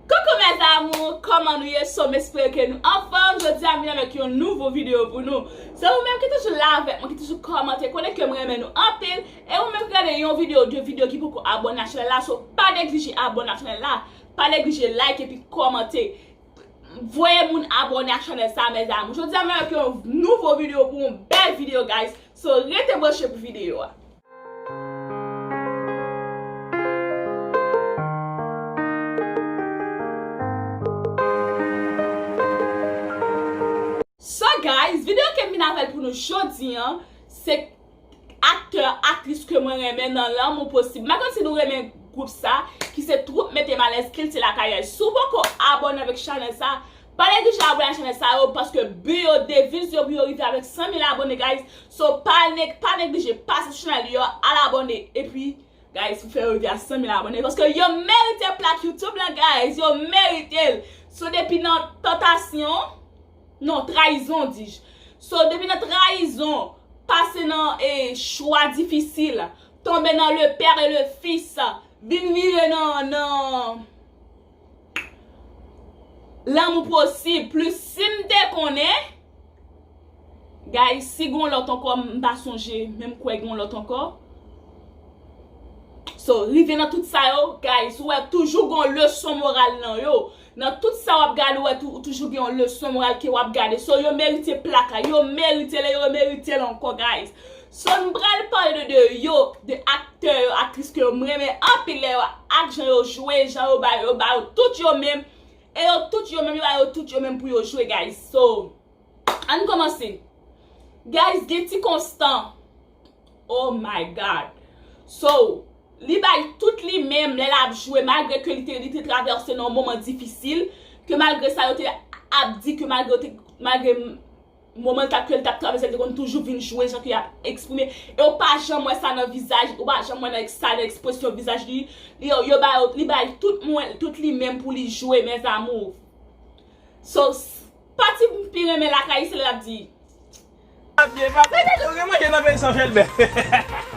Coucou mes amours, kòman nou ye so m espere ke nou anfòm, jodi a m vin avèk yon nouvo video pou nou se ou menm ki toujou la avèk mwen ki toujou kòmante konnen ke m renmen nou anpil e ou menm ki gade yon video ou 2 video ki poko abòne ak chanèl la so pa neglije abòne ak chanèl la pa neglije like epi kòmante voye moun abòne ak chanèl sa mes amours jodi a m vin avèk yon nouvo video pou ou bèl video guys so rete branche pou video a. So guys video kem vin avèl pou nou jodi an se Aktè aktris ke mwen renmen nan lanmou posib Mpa konn si nou renmen gwoup sa ki se Twoup Metem Alèz kilti lakay Souw poko abone avèk chanèl sa Pale di chala bouya chanel sa yo paske bu yo deviz yo pou yo rive avèk 100 mil abone guys so pa pa neglije pase sou chanel yo al abone epi guys pou fè yo rive a 100 mil abone paske yo merite plak youtube la guys yo meritel so depi nan tantasyon non trayizon dij so depi nan trayizon pase nan e chwa difisil tonbe nan le père et le fils vin vire nan nan Lanmou posib plis sim te konnen Guys si gon lòt ankò m pa sonje men m kwè gon lòt ankò So rive nan tout sa yo Guys ou wè toujou gon leson moral nan yo Nan tout sa wap gade ou wè toujou gen yon leson moral ke wap gade So yo merite plaka yo merite le yo merite l ankò Guys So m pral pale de 2 yo, 2 aktè yo, aktris ke yo m renmen anpil lè yo ak jan yo jwe, jan yo ba yo, yo ba yo tout yo menm e yo tout yo menm yo ba yo tout yo menm pou yo jwe guys so ann komanse guys gen ti konstan oh my God so li bay tout li menm lè lap jwe malgre ke li te li te travèse nan yon moman difisil ke malgre sa yo te ap di ke malgre yo te malgre. Moman kat ke l tap travèse l te konn toujou vin jwe jan ke yap eksprime e ou pa janm wè sa nan vizaj ou pa janm wè nan sa nan ekspresyon vizaj li yo ba yo li bay tout mwen tout li menm pou li jwe mes amours so pati m pi renmen lakay se lè lap di. Manje papa yo gen manje nan peyi san chelbè.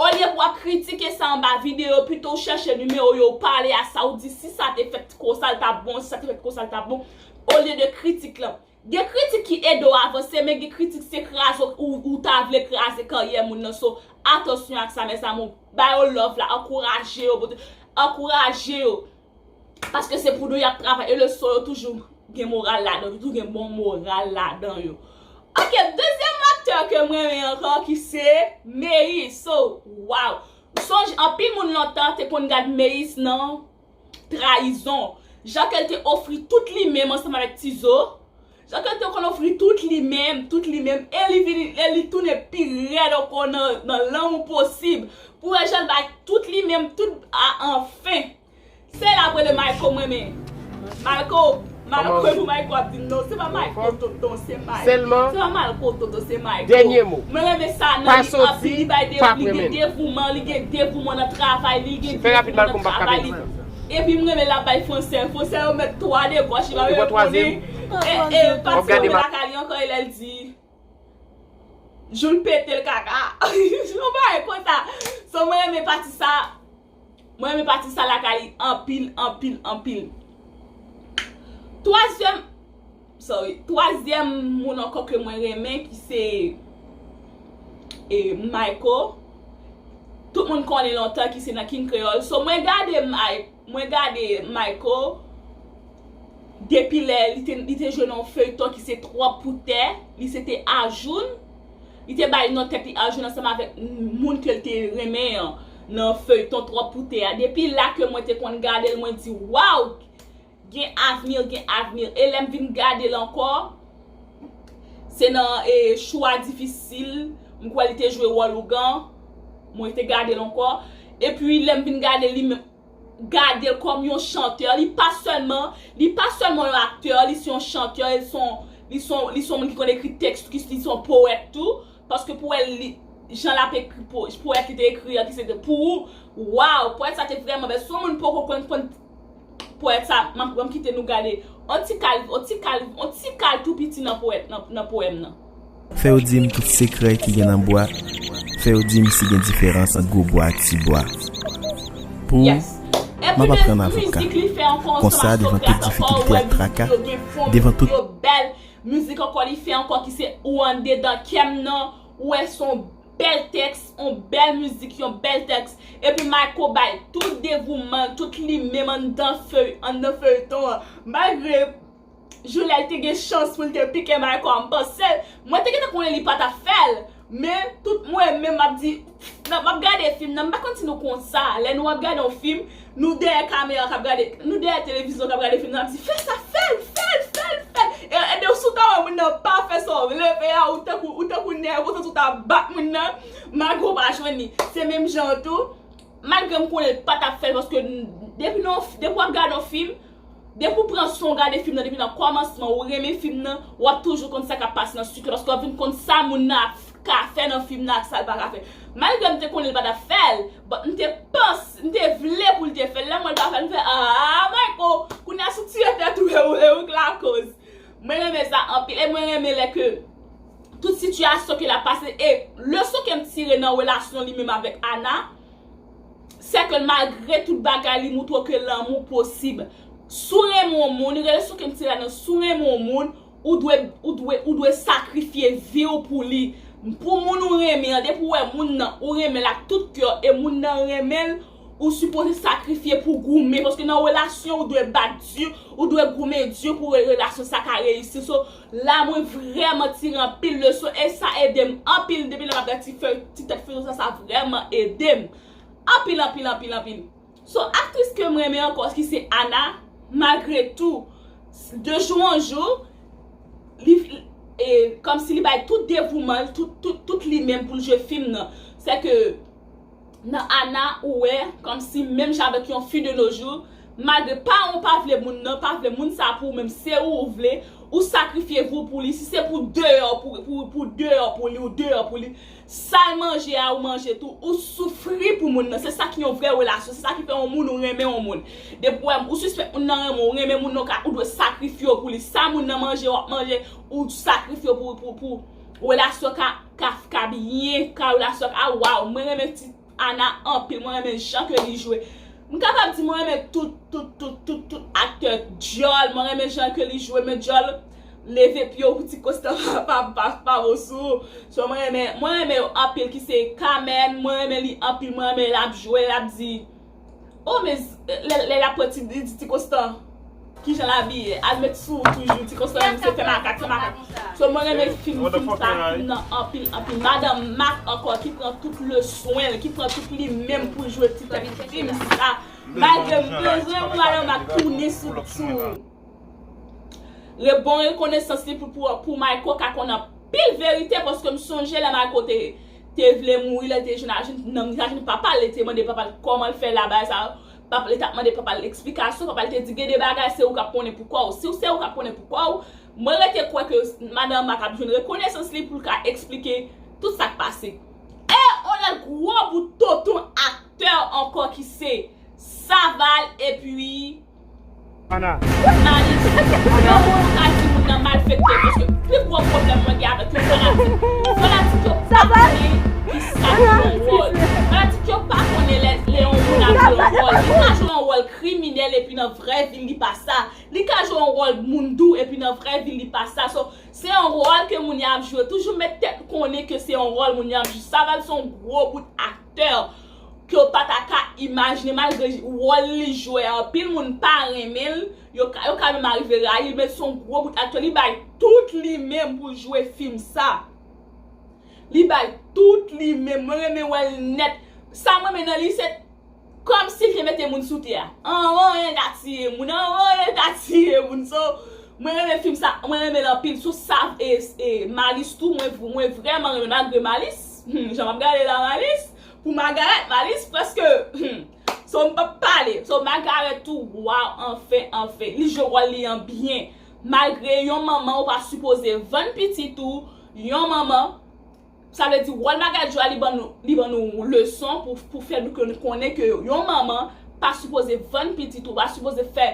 Olye pou wap kritike sa anba video pito ou chèche nimewo yo ou pale a sa ou di si sa te fèt ti ko sa l tap bon si sa te fèt ti ko sa l tap bon olye de kritik lan gen kritik ki ede w avanse men gen kritik se kraze w ou ta vle kraze karyè moun nan so atansyon ak sa mes amour ba yo love la ankouraje yo pote ankouraje yo Paske se pou nou yap travay e leson yo toujou gen moral ladan yo toujou gen bon moral ladan yo ok dezyèm aktè kem renmen ankò ki se meyis so waw m sonje anpil moun lontan te konn gad meyis nan trayizon jan ke l te ofri tout li menm ansanm avèk tizo Jan ke l te konn ofri tout li menm, tout li menm, e li vini, e li tounen pi rèd ankò nan, nan lanmou posib, pou wè jan l bay tout li menm, tout, a anfen. Se la ap rele Mayko mwen men. Mayko, Mayko e pou Mayko ap di m non, se pa Mayko tonton, se Mayko. Sèlman. Se pa Mayko tonton, se Mayko. Dènye mo. Mwen renmen sa nan li anpil, li bay de, li gen devouman, li gen devouman nan travay li, li gen devouman nan travay li. Epi m renmen lap bay fransè. Fransè yo mèt twò a de gòch li pa menm konnen e pati yo te lakay li ankò e lè l di jou l pete l kaka yon bagay konsa so mwen renmen pati sa mwen renmen pati sa lakay li anpil anpil anpil twazyèm Sorry. Twazyèm moun ankò ke mwen renmen ki se Mayko. Tout moun konnen lontan ki se nan King Kreyòl. So mwen gade mwen gade Mayko depi lè li te jwe nan yon feyton ki se Twòp pou tè. Li se te Ajoun. Li te bay non tèt li Ajoun ansanm avèk moun ke li te renmen an nan feyton Twòp pou tè a. Depi la ke mwen te konn gade l mwen di waw! Gen avenir gen avenir e lèm vin gadel ankò se nan e chwa difisil m kwè li te jwe wòl ougan mwen te gadel ankò epi lèm vin gadel li menm gadel kòm yon chanteur li pa sèlman li pa sèlman yon acteur li se yon chanteur el se yon li se yon li se yon moun ki konn ekri tèks tou li se yon poète tou paske pou wèl li jan lap ekri poète li te ekri an ki se te pou ou waw poète sa te vrèman bèl si yon moun poko konn konn Poète sa map map kite nou gade on ti kal on ti kal on ti kal tou piti nan poète nan nan poème nan. Fè yo di m tout sekrè ki gen nan bwa Fè yo di m si gen diferans ant gwo bwa ak ti bwa Pou Yes m ap Enplimèn aprann avoka mizik li fè ankò ansanm Konsa ak devan tout Socrate ankò ou difikilte wè ak mizik traka li yo gen fon Devan mizik li tout yo bèl Mizik ankò li fè ankò ki se ou andedan kè m nan Ou wè s on Bèl tèks, yon bèl mizik, yon bèl tèks. Epi Mayco bay tout devouman l, tout li menm anndan feyton an. Malgre Joulel te gen chans pou l te pike Mayco a, m panse, mwen te gentan konnen li pa t ap fè l. Men, tout mwen menm m ap di, m ap gade fim nan, m pa konn si nou konn sa, lè nou ap gade yon fim, Nou dèyè kamera kap gade Nou dèyè televizyon kap gade fim nap di fè sa fèl fèl fèl fèl Ede w si w ta wè moun nan pa fè sa w vle fè a ou tankou ou tankou nèg ou santi w ta bat moun nan malgre w pa jwenn li se menm jan an tou malgre m konnen l patap fèl paske depi nan yon depi wap gade yon fim Depi w pran son w gade fim nan depi nan kòmansman ou renmen fim nan wap toujou konn sa kap pase nan suite la paske wap vin konn sa moun nan ap ka fè nan fim nan ak sal paka fè malgre m te konnen l pa tap fèl but m te panc m te vle pou l te fèl lèm wè l pa fèl m fè aah Mayko kounye a si w tire tèt ou e ou k lakoz mwen renmen sa anpil e mwen renmen lè ke tout sitiyasyon ke l ap pase e leson kem tire nan relasyon li menm avèk Ana. sè ke malgre tout bagay li moutre w ke lanmou posib. Si w renmen yon moun, li rele sou ke m se la nan si w renmen yon moun, ou dwe, ou dwe, ou dwe sakrifye vi w pou li. Pou moun ou renmen an, depi w wè moun nan, ou renmen l ak tout kè w e moun nan renmen l, ou sipoze sakrifye pou goumen paske nan relasyon ou dwe bat di, ou dwe goumen di pou relasyon sa ka reyisi. So. La mwen vreman tire anpil leson e sa edem anpil depi lè map gad ti fey ti tèt feyton sa sa vreman edem anpil anpil anpil anpil so aktris kem renmen ankò ki se Ana malgre tou de jou an jou li e komsi li bay tout devoumanl tout tout tout li menm poul jwe fim nan sèke. Nan Ana ou wè komsi menm jan avèk yon fi de nos jours malgre paranw pa vle moun nan pa vle moun sa pou ou menm se ou ou vle ou sakrifye vi w pou li si se pou deyò pou deyò pou li ou deyò pou li sal manje a ou manje tou ou soufri pou moun nan se sa ki yon vrè relasyon se sa ki fè yon moun ou renmen yon moun depi ou wè ou sispèk moun nan renmen w ou renmen moun nan ka ou dwe sakrifye w pou li sa moun nan manje wap manje ou sakrifye w pou relasyon ka Kafka byen Carole a sòt a waw mwen renmen ti Ana anpil mwen renmen jan ke li jwe m kapab di mwen renmen tout tout tout tout tout aktè dyòl mwen renmen jan ke li jwe men dyòl leve pye w pou ti kosta pa pa pa bo sou ou so mwen renmen mwen renmen yo anpil ki se Carmène mwen renmen li anpil mwen renmen lap jwe lap di. Oh men lè lap pran ti di ti konstan kijan l abiye al met sou ou toujou ti konstan menm se fè makak fè makak so mwen renmen fim sa fim nan anpil anpil madan mak ankò ki pran tout le swen l ki pran tout li menm pou l jwe ti tèt fim sa malgrem bezwen pou madan mak tounen sou l toujou. Re bon rekonesans li pou pou mayko ka konn anpil verite paske m sonje lè mayko te te vle mouri lèl te jwenn ajoun nanm li t ajoun papal li te mande papal kòmanl fè la bagay sa pap li tap mande papal eksplikasyon papal te di gen de bagay se ou kap konnen pou kòw siw se ou kap konnen pou kòw mwen rete kwè ke madan mak ap jwenn rekonesans li poul ka eksplike tout sak pase e on lòt gwo bout tonton aktè ankò ki se saval epi Ana. Woy Malis! Yon moun ou ka di moun nan malfektè paske pi gwo pwoblèm mwen gen avèk yo fanatik. Fanatik yo pa konnen ki sa ki yon wòl. Fanatik yo pa konnen lè yon moun ap jwe yon wòl. Li ka jwe yon wòl kriminèl epi nan vrè vi l li pa sa. Li ka jwe yon wòl moun dou epi nan vrè vi l li pa sa. So, se yon wòl ke moun nan ap jwe. Toujou met tèt ou konnen ke se yon wòl moun nan ap jwe. Saval se yon gwo bout aktè. aktè ke w pa ta ka imajne malgre wòl li jwè anpil moun pa renmen l, yo ka menm arive rayi l men se yon gwo bout aktè li bay tout li menm pou l jwe fim sa li bay tout li menm mwen renmen wè l nèt sa m renmen nan li se kòm si l te mete moun sou tè a anyen ka tiye moun anyen ka tiye moun so mwen renmen fim sa mwen renmen l anpil sou sa e Malis tou mwen vrèman renmen malgre Malis. Humm jan map gade la Malis pou Magarèt Malis preske humm so mpap pale so Magarèt tou waw anfen anfen li jwe wòl li an byen malgre yon manman ou pa sipoze vann pitit ou yon manman sa vle di wòl Magarèt jwe a li ban li ban nou leson pou fè nou konnen ke yon manman pa sipoze vann pitit ou pa sipoze fè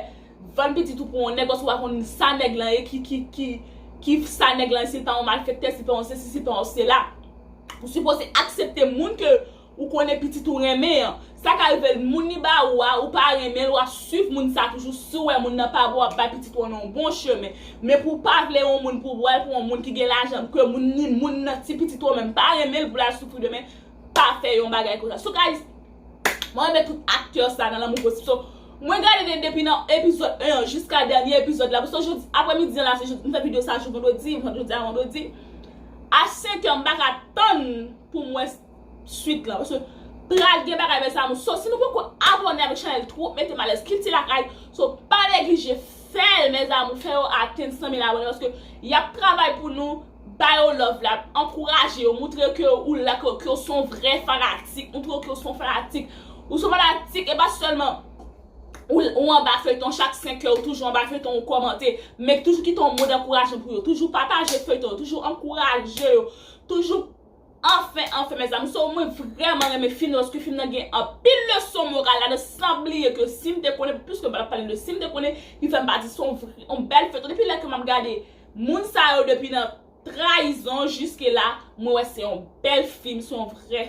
Vann pitit ou pou yon nèg oswa pa konn sa nèg lan ye ki sa nèg lan ye sil pa yon malfektè sil pa yon sesi sil pa yon sela ou sipoze aksepte moun ke ou konnen pitit ou renmen an sa ka rive moun li ba ou a ou pa renmenl wap swiv moun sa toujou siw wè moun nan pa bon wap bay pitit ou an yon bon chemen men pou pa vle yon moun pou bwal pou yon moun ki gen lajan ke moun ni moun nan ti pitit ou an menm pa renmenl pou lal soufri demen pa fè yon bagay konsa sou ka. Mwen renmen tout aktè sa nan lanmou posib so Mwen gade de depi nan epizòd 1 an jiska dènye epizòd la Paske jodi aprè midi an la se jodi m fè video sa jou vandredi Jodi a vandredi A 5 an m paka tann pou m wè swit lan Paske pral gen bagay mes amour So si nou poko abòne avèk chanèl Twoup Metem Alèz Kilti Lakay So pa neglije fè l mes amour Fè yo atenn 100 mil abòne Paske yap travay pou nou Ba yo love la, ankouraje yo, moutre ke ou la, ke ou son vrè fanatik, moutre yo ke ou son fanatik. Ou son fanatik, e pa sèlman ou anba feyton chak 5 è, ou toujou anba feyton ou kòmante, men toujou kite yon mo dankourajman pou yo, toujou pataje feyton yo, toujou ankouraje yo, toujou. Anfen anfen mes amours so mwen vreman renmen film nan paske film nan gen anpil leson moral ladan san bliye ke sim te konnen plis ke m pa tap pale de sim te konnen ki fèm pa di son yon bèl feyton depi lè ke map gade moun sa yo depi nan trayizon jiske la mwen wè se yon bèl film se yon vrè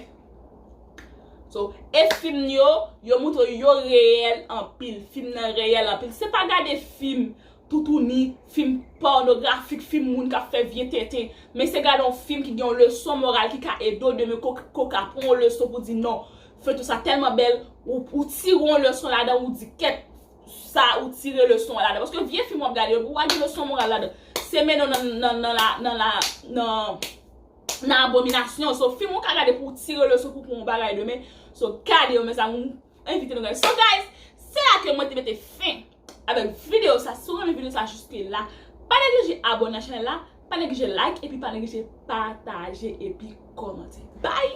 so e film yo yo moutre yo reyèl anpil film nan reyèl anpil se pa gade film toutouni, fim pònografik, fim moun k ap fè vye tenten. Men se gade yon fim ki gen yon leson moral ki ka ede w demen ke w ka pran yon leson pou w di non, feyton sa tèlman bèl, ou tire yon leson ladan l, ou di kèt sa ou tire leson an ladan. Paske vye fim w ap gade yo, pou w pa gen leson moral ladan, se mennen w nan nan la nan la nan abominasyon. So fim ou ka gade pou w tire leson pou w pran yon bagay demen. So gade yo mèzanmi, m envite nou gade. So guys, se la ke mwen te mete fen. avèk video sa si ou renmen video sa jiske la pa neglije abone nan chanel la pa neglije like epi pa neglije pataje epi komante bye.